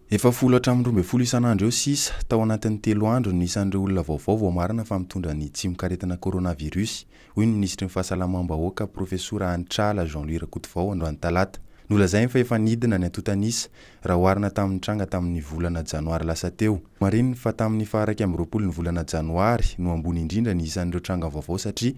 Efa folo hatramin'ny roa ambin'ny folo isan'andro eo sisa, tao anatin'ny telo andro, ny isan'ireo olona vaovao voamarina fa mitondra ny tsimokaretina coronavirus, hoy ny minisitry ny Fahasalamam-bahoaka, Profesora Hanitr'ala Jean-Louis Rakotovao, androany talata. Nolazainy fa efa nidina ny antontan'isa, raha oharina tamin'ny nitranga tamin'ny volana janoary lasa teo. Nomarihiny fa tamin'ny faha-iraika amby roapolo ny volana janoary no ambony indrindra ny isan'ireo tranga vaovao satria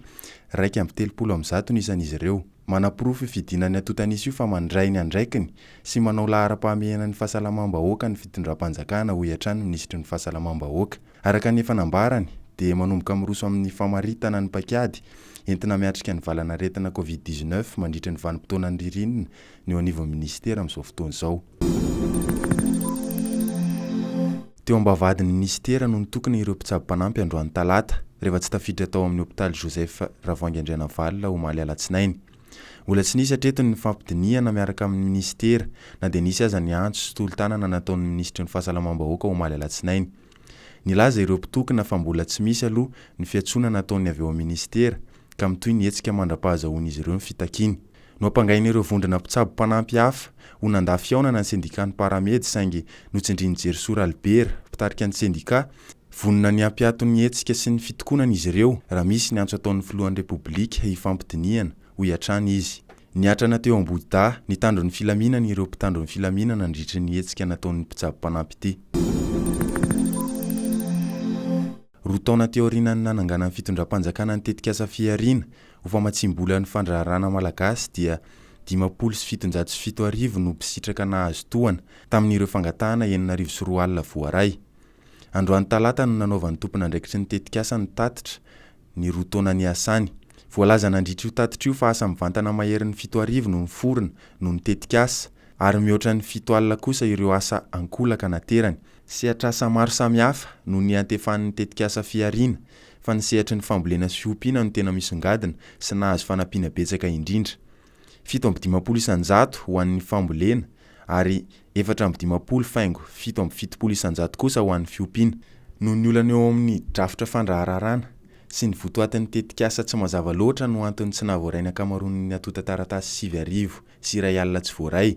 iraika amby telopolo amin'ny zato ny isan'izy ireo. Manaporofo io fidinan'ny antontan'isa io fa mandray ny andraikiny sy manao laharam-pahamehana ny fahasalamam-bahoaka ny fitondram-panjakana, hoy hatrany ny minisitry ny Fahasalamam-bahoaka. Araka ny efa nambarany, dia manomboka miroso amin'ny famaritana ny paik'ady entina miatrika ny valanaretina covid dix-neuf mandritra ny vanim-potoanan'ny ririnina ny eo anivon'ny minisitera amin'izao fotoana izao. Teo am-bavahadin'ny minisitera no nitokona ireo mpitsabo mpanampy androany talata, rehefa tsy tafiditra tao amin'ny hopitaly Joseph Ravoahangy Andrianavalona omaly alatsinainy. Mbola tsy nisy hatreto ny fampidinihana miaraka amin'ny minisitera, na dia nisy aza ny antso sy tolo-tanana nataon'ny minisitry ny Fahasalamam-bahoaka omaly alatsinainy. Nilaza ireo mpitokona fa mbola tsy misy aloha ny fiantsonana ataony avy ao amin'ny minisitera ka mitohy ny hetsika mandra-pahazahoan'izy ireo ny fitakiany. Noampangain'ireo vondrona mpitsabo mpanampy hafa ho nandà fihaonana ny sendikàn'ny Paramed saingy notsindrian'i Jerisoa Ralibera, mpitarika ny sendikà, Vonona ny hampiato ny hetsika sy ny fitokonana izy ireo raha misy ny antso ataon'ny filohan'ny Repoblika hifampidinihana, hoy hatrany izy. Niatrana teo Ambohidahy, nitandro ny filaminana ireo mpitandro ny filaminana nandritry ny hetsika nataon'ny mpitsabo mpanampy ity. Roa taona teo aorianan'ny nananganan'ny fitondram-panjakana ny tetikasa Fihariana ho famatsiam-bola ny fandraharahana malagasy dia dimampolo sy fitonjato sy fito arivo no mpisitraka nahazo tohana tamin'ireo fangatahana enina arivo sy roa alina voaray. Androany talata no nanaovan'ny tompon'andraikitry ny tetikasa ny tatitra ny roa taona niasany. Voalaza nandritra io tatitra io fa asa mivantana maherin'ny fito arivo no niforona noho ny tetikasa ary mihoatra ny fito alina kosa ireo asa ankolaka naterany. Sehatr'asa maro samihafa no niantefan'ny tetikasa Fihariana fa ny sehatry ny fambolena sy fiompiana no tena misongadina sy nahazo fanampiana betsaka indrindra. fito amby dimampolo isan-jato ho an'ny fambolena ary efatra amby dimampolo faingo fito amby fitopolo isan-jato kosa ho an'ny fiompiana. Noho ny olana eo amin'ny drafitra fandrahararana sy ny votoatin'ny tetikasa tsy mazava loatra no anton'ny tsy nahavoaray ny ankamaroan'ny atontan-taratasy sivy arivo sy iray alina tsy voaray,